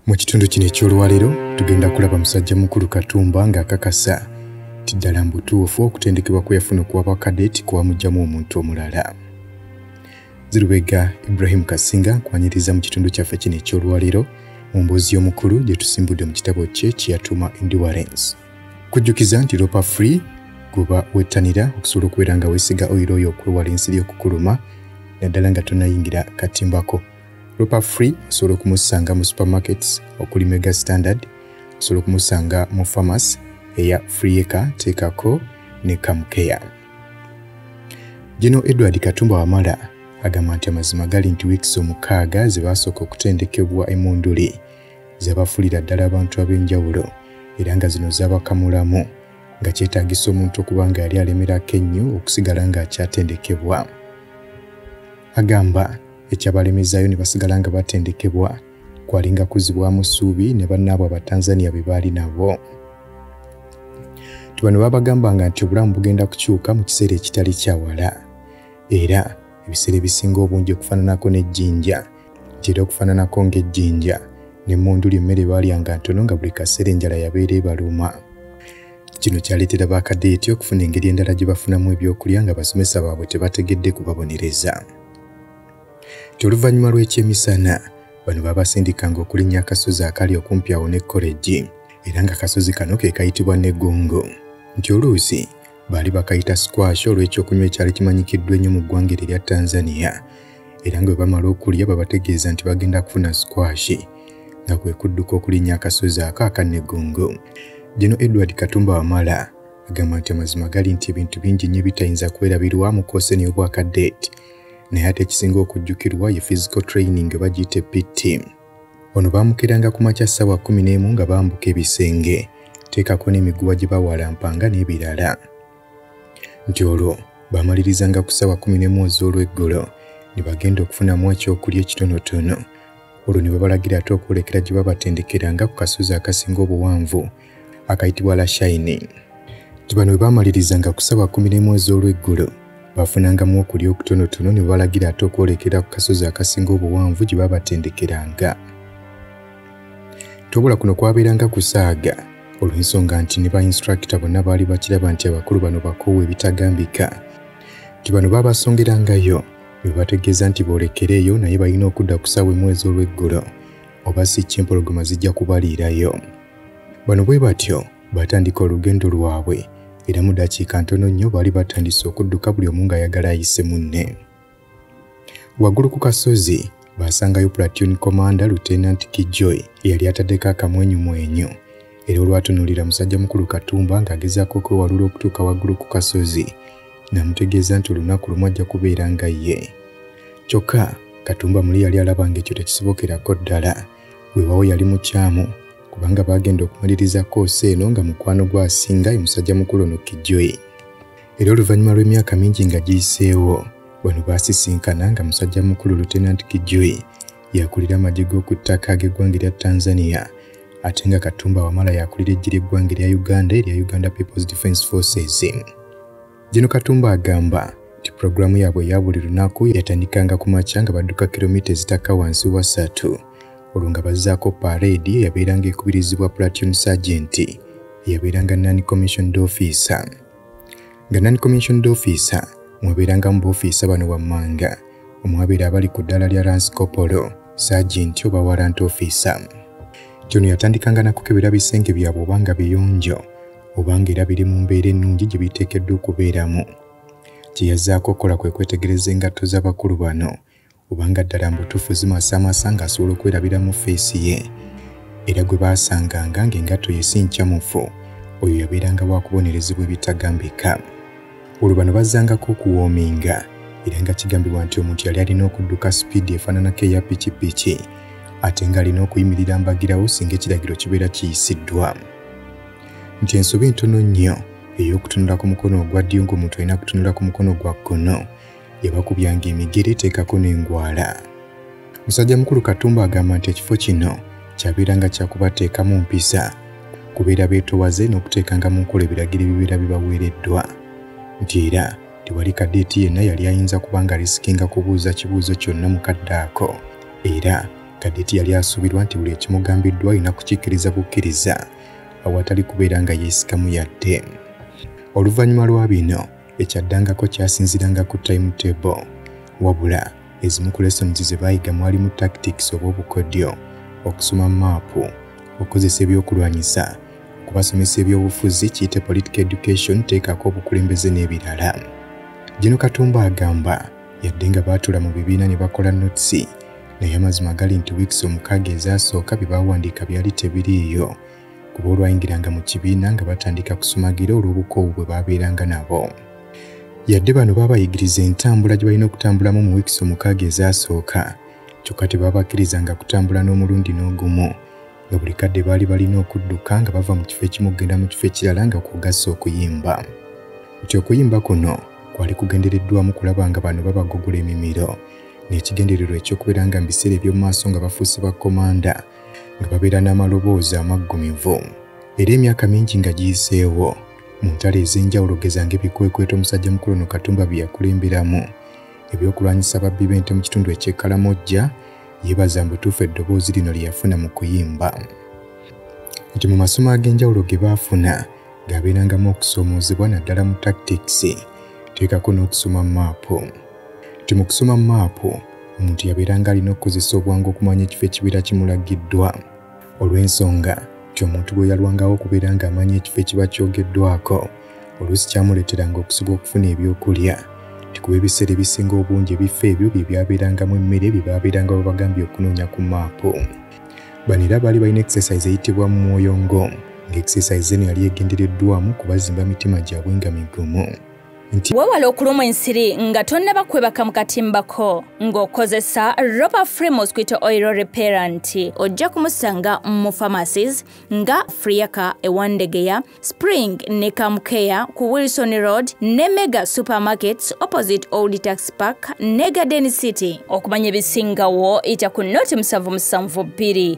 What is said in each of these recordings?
mu kitundu kino eky'olwaleero tugenda kulaba musajja mukulu katumba ng'akakasa ti ddala mbutuufu okutendekebwa kwe yafuna okuwa bakadeti kwamugyamu omuntu omulala zirubega ibrahim kasinga nkwanyiriza mu kitundu kyaffe kino eky'olwaleero mu mboozi y'omukulu gye tusimbudde mu kitabo kye kye yatuuma endurance kujjukiza nti lopa free guba wettanira okusobola okubeera nga weesiga oyiro oyo okwewala ensiri okukuluma naddala nga tonayingira katimbako lopa free osobola okumusanga mu supermarkets okuli mega standard osobola okumusanga mu pharmacy eya freeeka teekako ne kamukeya gino edward katumba wamala agamba nti amazima gali nti wiikisi omukaaga ze baasooka okutendekebwa emunduli zabafulira ddala abantu ab'enjawulo era nga zino zabakamulamu nga kyetaagisa omuntu okuba nga yali alemerako ennyo okusigala ng'akyatendekebwa agamba ekyabalemezaayo ne basigala nga batendekebwa kwalinga kuzibwamu ssuubi ne bannaabwe abatanzania be baali nabo tubano babagambanga nti obulamu bugenda kukyuka mu kiseera ekitali kyawala era ebiseera ebisinga obungi okufaananako n'ejjinja nti era okufaananako ng'ejjinja ne mundu ly'emmere baalyanga ntono nga buli kaseera enjala yabeera ebaluma kino kyaleetera bakadeeti okufuna engeri endala gye bafunamu ebyokulya nga basomesa baabwe tebategedde kubabonereza ti oluvannyuma lw'ekyemisana bano babasindikanga okulinnya akasozi akali okumpi awo ne kolegi era nga kasozi kano ke kayitibwa negongo nti oluusi Baali bakayita squash olw'ekyokunywa ekyali kimanyikiddwa ennyo mu ggwanga eryo erya Tanzania era nga bwe bamala okulya babategeeza nti bagenda kufuna squash nga kwe kudduka okulinnya akasozi ako akannegongo. Gino Edward Katumba Wamala agamba nti amazima gali nti ebintu bingi nnyo ebitayinza kwerabirwa mu koosi eno y'obwakaddeeti naye ate ekisinga okujjukirwa ye physical training oba giyite pt Ono baamukeranga ku makya ssaawa kkumi n'emu nga bambuka ebisenge, teekako n'emiguwa gye bawalampanga n'ebirala. Nti olwo baamalirizanga ku ssaawa kkumi n'emu ez'olweggulo ne bagenda okufunamu ekyokulya ekitonotono. Olwo ne babalagira ate okwolekera gye babatendekeranga ku kasozi akasinga obuwanvu akayitibwa la shine nti bano bwe baamalirizanga kusaba ku mirimu ez'olweggulo baafunangamu okulya okutonotono ne balagira ate okwolekera ku kasozi akasinga obuwanvu gye baabatendekeranga tobula kuno kwabeeranga kusaaga olw'ensonga nti ne bainstrakita bonna baali bakiraba nti abakulu bano bakoowa ebitagambika nti bano baabasongerangayo ne bategeeza nti boolekereeyo naye balina okudda ku ssaawa emu ez'olweggulo oba si kimpologoma zijja kubaliirayo Bano bwe batyo batandika olugendo lwabwe era mu dakiika ntono nnyo baali batandise okudduka buli omu ng'ayagala ayise munne. Waggulu ku kasozi baasangayo platoon commander Lieutenant Kijoy eyali ataddeko akamwenyumwenyu era olwatunuulira musajja mukulu Katumba ng'agezaako okwewalula okutuuka waggulu ku kasozi namutegeeza nti olunaku lumu ajja kubeera nga ye. Kyokka Katumba muli yali alaba ng'ekyo tekisobokerako ddala. weewawo yali mukyamu kubanga baagenda okumaliriza koosi eno nga mukwano gwasinga ye musajja mukulu ono kijjoyi era oluvannyuma lw'emyaka mingi nga giyiseewo bano baasisinkana nga musajja mukulu lutenant kijjoyi yakulira amagye g'oku ttaka ag'eggwanga erya tanzania ate nga katumba wamala yakulira eggye ly'eggwanga erya uganda erya uganda peoples defence forces Gino Katumba agamba nti pulogulaamu yaabwe eya buli lunaku yatandikanga ku makya nga badduka kilomita ezitakka wansi wa ssatu olwo nga bazzaako pareedi eyabeeranga ekubirizibwa platoon sergeant eyabeeranga non commissioned officer nga non commissioned officer mwabeerangamu boofiisa bano wammanga omwabeera abali ku ddaala lya ransikopolo sergeant oba warrant officer nti ono yatandikanga nakukebera bisenge byabwe obanga biyonjo obanga era biri mu mbeera ennungi gye biteekeddwa okubeeramu kye yazzaako okukola kwe kwetegereza engatto z'abakulu bano obanga ddala mbutuufu zimasaamasa ng'asobola okwerabira mu feesi ye era gwe baasanganga ng'engatto ye si nkyamufu oyo yabeeranga wakubonerezebwa ebitagambika olwo bano bazzangako okuwoominga era nga kigambibwa nti omuntu yali alina okudduka sipiidi efaananako eya pikipiki ate ng'alina okuyimirira mbagirawo singa ekiragiro kibeera kiyisiddwa nti ensobi entono nnyo ey'okutunula ku mukono ogwa ddyo ng'omuntu alina kutunula ku mukono gwa kkono yabakubyanga emigere eteekako n'engwala musajja mukulu katumba agamba nti ekifo kino kyabeeranga kyakubateekamu mpisa kubeera beetowaze n'okuteekanga mu nkola ebiragiro ebibeera bibaweereddwa nti era tewali kadeeti yenna yali ayinza kuba nga risikinga kubuuza kibuuzo kyonna mu kadde ako era kadeeti yali asuubirwa nti buli ekimugambiddwa alina kukikkiriza bukkiriza awatali kubeera nga yeesikamu yadde oluvannyuma lwa bino ekyaddangako kyasinziranga ku time table wabula ezimu ku lessons ze baayiga mwalimu tactics oba obukodyo okusoma maapu okukozesa ebyokulwanyisa okubasomesa ebyobufuzi kiyite political education teekako obukulembeze n'ebirala gino katumba agamba yadde nga baatula mu bibiina ne bakola notisi naye amazima gali nti wiikisi omukaaga ezaasooka bye baawandiika byali tebiriiyo kuba olwayingiranga mu kibiina nga batandika kusumagira olw'obukoowu bwe baabeeranga nabo yadde bano baabayigiriza entambula gye balina okutambulamu mu wiikisi omukaaga ezaasooka kyokka tebabakkirizanga kutambula n'omulundi n'ogumu nga buli kadde baali balina okudduka nga bava mu kifo ekimu okugenda mu kifo ekirala nga kugasa okuyimba nti okuyimba kuno kwali kugendereddwamu kulaba nga bano babagugula emimiro n'ekigendererwa eky'okubeera nga mu biseera eby'omu maaso nga bafuuse ba komanda nga babeera n'amaloboozi amaggumivu era emyaka mingi nga giyiseewo mu ntalo ez'enjawulo gezanga ebikwekweto omusajja mukulu no katumba bye yakulemberamu ebyokulwanyisa ababbi b'ente mu kitundu eky'ekkalamojja yeebaza mbutuufu eddoboozi lino lye yafuna mu kuyimba nti mu masomo ag'enjawulo ge baafuna ng'abeerangamu okusoomoozebwa naddala mu tactics teekako n'okusoma maapu nti mu kusoma maapu omuntu yabeeranga alina okukozesa obwangu okumanya ekifo ekibeera kimulagiddwa olw'ensonga nti omuntu bwe yalwangawo okubeera ng'amanya ekifo ekiba kyogeddwako oluusi kyamuleeteranga okusiga okufuna ebyokulya tikuba ebiseera ebisinga obungi ebifo ebyo bye byabeerangamu emmere bye baabeeranga babagambye okunoonya ku maapu bano era baali balina exercise eyitibwa mu mwoyo ngo ng'exercise eno yali egendereddwamu kubazimba mitima gyabwe nga migumu nti wewale okulumwa ensiri nga tonnaba kwebaka mu katimbako ng'okozesa roba free mosquito oil repera nti ojja kumusanga mu pharmacies nga friaka ewandegeya spring ne kamukeya ku wilson road ne mega supermarkets opposite old tax park ne garden city okumanya ebisingawo ita ku noti musanvu musanvu bbiri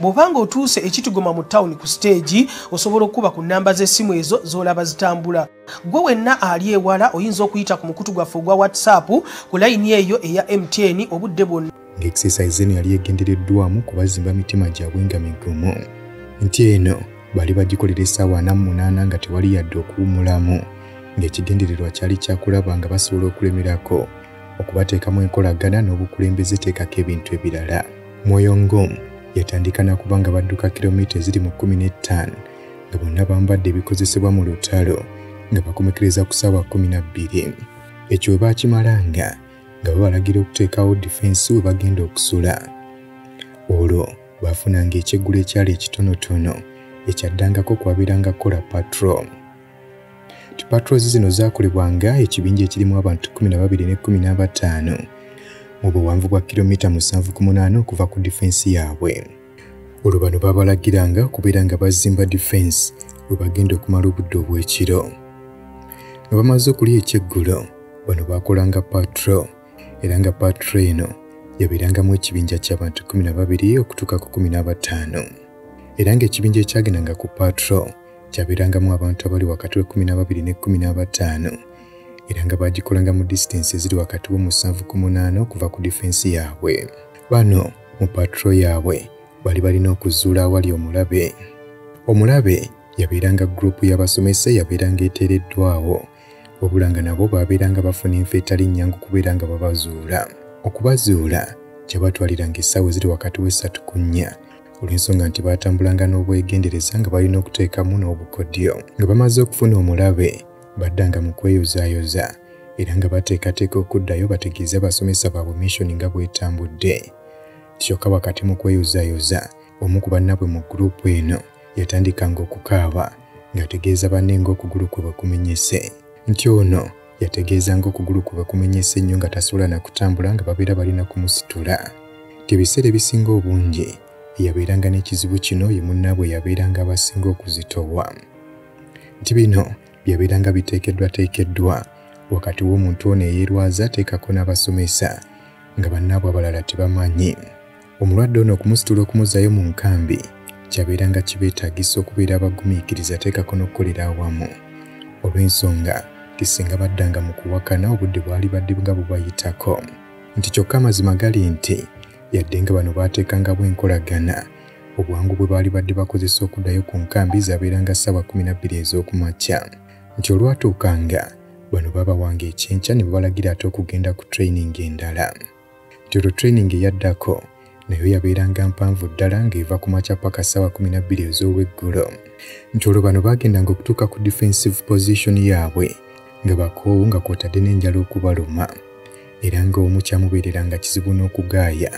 bw'oba nga otuuse ekitigoma mu tawuni ku siteegi osobola okukuba ku nnamba z'essimu ezo z'olaba zitambula gwe wenna ali ewala oyinza okuyita ku mukutu gwaffe ogwa whatsapp ku layini eyo eya mtn obudde bwonna ng'exercise eno yali egendereddwamu kubazimba mitima gyabwe nga migumu nti eno bali bagikolera essaawa ana mu munaana nga tewali yadde okuwumulamu ng'ekigendererwa kyali kyakulaba nga basobola okulemerako okubateeka mu enkolagana n'obukulembeze teekako ebintu ebirala mwoyo ngom yatandika nakuba nga badduka kilomita eziri mu 15 nga bonna bambadde ebikozesebwa mu lutalo nga bakomekereza ku saawa 12 ekyo we baakimalanga nga babalagira okuteekawo difensi we bagenda okusula olwo baafunanga ekyeggulo ekyali ekitonotono ekyaddangako kwabeeranga kola patrol Patrols zino zaakolebwa nga ekibinja ekirimu abantu 12 ne 15 mu buwanvu bwa kilomita 7.8 okuva ku difensi yaabwe. Olwo bano baabalagiranga okubeera nga bazimba difensi we bagenda okumala obudde obw'ekiro. Nga bamaze okulya ekyeggulo, bano baakolanga patro era nga patro eno yabeerangamu ekibinja ky'abantu 12 okutuuka ku 15 era ng'ekibinja ekyagendanga ku patro kyabeerangamu abantu abali wakati w'ekkumi n'ababiri n'ekkumi n'abataano era nga baagikolanga mu disitansi eziri wakati w'omusanvu ku munaana okuva ku difensi yaabwe bano mu patro yaabwe bali balina okuzuula awali omulabe omulabe yabeeranga gurupu y'abasomesa eyabeeranga eteereddwawo wabula nga nabo baabeeranga bafuna enfa etali nnyangu kubeera nga babazuula okubazuula kyabatwaliranga essaawa eziri wakati w'essatu ku nnya olw'ensonga nti baatambulanga n'obwegendereza nga balina okuteekamu n'obukodyo nga bamaze okufuna omulabe baddanga mu kweyozaayoza era nga bateekateeka okuddayo bategeeze abasomesa baabwe missoni nga bwetambudde kyokka wakati mu kweyozaayoza omu ku bannabwe mu guruupu eno yatandikanga okukaaba ng'ategeeza banne ng'okugulu kwe bwe kumenyese nti ono yategeeza ng'okugulu kwe bwe kumenyese nnyo nga tasobola na kutambula nga babeera balina kumusitula nti ebiseera ebisinga obungi eyabeeranga n'ekizibu kino ye munnaabwe yabeeranga abasinga okuzitowa nti bino byabeeranga biteekeddwateekeddwa wakati w'omuntu ono eyeerwaza ateekako n'abasomesa nga bannaabwe abalala tebamanyi Omulwadde ono okumusitula okumuzzayo mu nkambi kyabeeranga kibeetagisa okubeera abagumiikiriza ateekako n'okukolera awamu olw'ensonga nti singa baddanga mu kuwakana obudde bwali badde nga bubayitako nti kyokka amazima gali nti yadde nga bano baateekangawo enkolagana obwangu bwe baali badde bakozesa okuddayo ku nkambi zabeeranga ssaawa 12 ez'oku makya nti olwatuukanga bano baabawanga ekyenkya ne babalagira ate okugenda ku training endala nti olwo training eyaddako nayo yabeeranga mpanvu ddala ng'eva ku makya paka ssaawa 12 ez'olweggulo nti olwo bano baagendanga okutuuka ku defensive position yaabwe nga bakoowu nga kwotadde n'enjala okubaluma era ng'omu kyamubeereranga kizibu n'okugaaya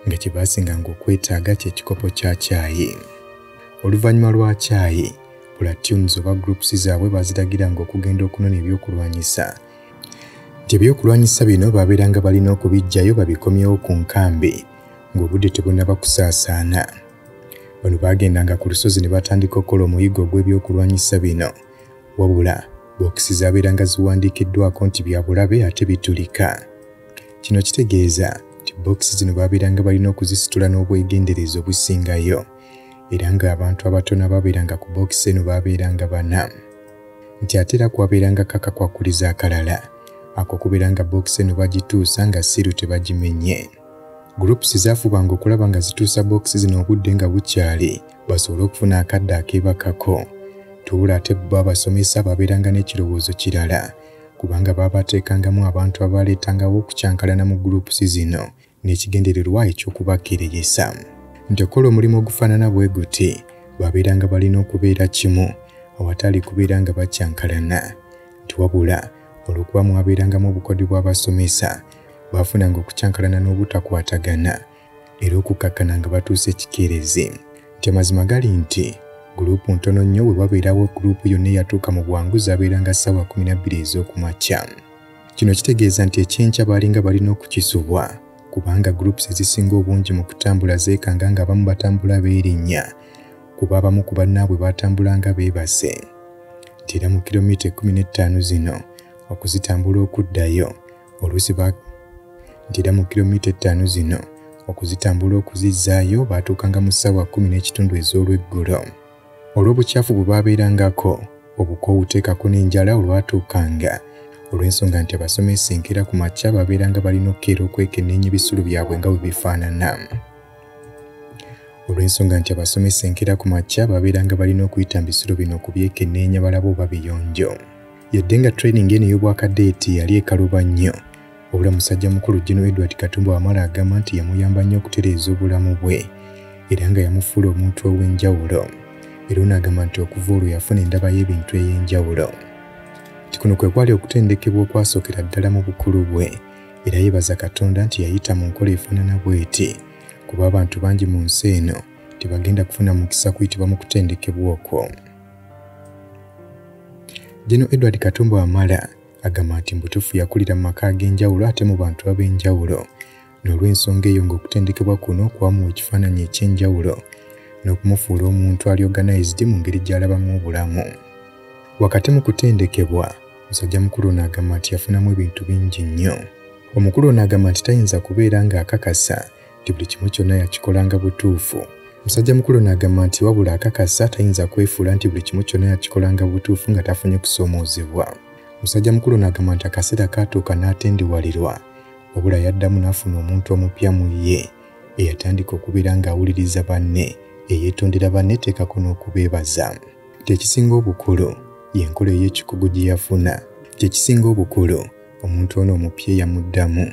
nga kye baasinganga okwetaaga ky'ekikopo kya kyayi oluvannyuma lwa kyayi platunes oba groups zaabwe baaziragiranga okugenda okunona ebyokulwanyisa nti ebyokulwanyisa bino baabeeranga balina okubiggyayo babikomyewo ku nkambi ng'obudde tebunaba kusaasaana bano baagendanga ku lusozi ne batandika okukola omuyiggo ogw'ebyokulwanyisa bino wabula bookisi zaabeeranga ziwandiikiddwako nti bya bulabe ate bitulika kino kitegeeza nti bookisi zino baabeeranga balina okuzisitula n'obwegendereza obusingayo era ng'abantu abatono abaabeeranga ku bookisi eno baabeeranga bana nti ate era kwabeeranga kakakwakuliza akalala ako kubeera nga bookisi eno bagituusa nga siiru tebagimenye groups zaafubanga okulaba nga zituusa bookisi zino obudde nga bukyali basobole okufuna akadde akeebakako tubula ate bo abasomesa babeeranga n'ekirowoozo kirala kubanga baabateekangamu abantu abaaleetangawo okukyankalana mu groups zino n'ekigendererwa eky'okubakkiririsa nti okukola omulimu ogufaanana bwe guti babeeranga balina okubeera kimu awatali kubeera nga bakyankalana nti wabula olw'okuba mwabeerangamu obukodi bw'abasomesa baafunanga okukyankalana n'obutakwatagana era okukakkana nga batuusa ekikeerezi nti amazima gali nti guluupu ntono nnyo we wabeerawo guluupu yonna eyatuuka mu bwangu zabeeranga ssaawa 12 ez'okumakya Kino kitegeeza nti ekyenkya baalinga balina okukisubwa kubanga groups ezisinga obungi mu kutambula zeekanga ng'abamu batambula beerinnya kuba abamu ku bannaabwe baatambula nga beebase nti era mu kilomita ekkumi n'ettaano zino okuzitambula okuddayo oluusi nti era mu kilomita ettaano zino okuzitambula okuzizzaayo baatuukanga mu ssaawa kkumi n'ekitundu ez'olweggulo olw'obukyafu bwe baabeerangako obukoowu teekako n'enjala olwatuukanga olw'ensonga nti abasomesa enkeera ku makya baabeeranga balina okukeera okwekenneenya ebisulo byabwe nga bwe bifaanana olw'ensonga nti abasomesa enkeera ku makya baabeeranga balina okuyita mu bisulo bino okubyekenneenya balaba oba biyonjo yadde nga training eno ey'obwakadeeti yali ekaluba nnyo Wabula musajja mukulu General Edward Katumba Wamala agamba nti yamuyamba nnyo okutereeza obulamu bwe era nga yamufuula omuntu ow'enjawulo era ono agamba nti okuva olwo yafuna endaba y'ebintu ey'enjawulo nti kuno kwe kwali okutendekebwa okwasookera ddala mu bukulu bwe era yebaza Katonda nti yayita mu nkola efaanana bw'eti kuba abantu bangi mu nsi eno tebagenda kufuna mukisa kuyitibwa mu kutendekebwa okwo. General Edward Katumba Wamala Agamba nti mbutufu yakulira mu maka ag'enjawulo ate mu bantu ab'enjawulo n'olw'ensonga eyo ng'okutendekebwa kuno kwamuwa ekifaananyi eky'enjawulo n'okumufuula omuntu ali organized mu ngeri gy'alabamu obulamu. Wakati mu kutendekebwa, musajja mukulu ono agamba nti yafunamu ebintu bingi nnyo. Omukulu ono agamba nti tayinza kubeera ng'akakasa nti buli kimu kyonna yakikolanga butuufu musajja mukulu n'agamba nti wabula akakasa tayinza kwefuula nti buli kimu kyonna yakikolanga butuufu nga tafunye kusoomoozebwa musajja mukulu n'agamba nti akaseera kaatuuka n'atendiwalirwa wabula yaddamu n'afuna omuntu omupya mu ye eyatandika okubeera ng'awuliriza banne eyeetondera banne teekako n'okubeebaza kyekisinga obukulu y'enkola ey'ekikugu gye yafuna kyekisinga obukulu omuntu ono omupya eyamuddamu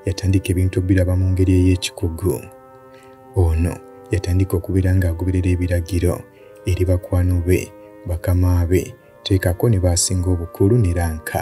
yatandika ebintu obiraba mu ngeri ey'ekikugu ono yatandika okubeera ng'agoberera ebiragiro eri bakwano be bakama be teekako ne baasinga obukulu ne ranka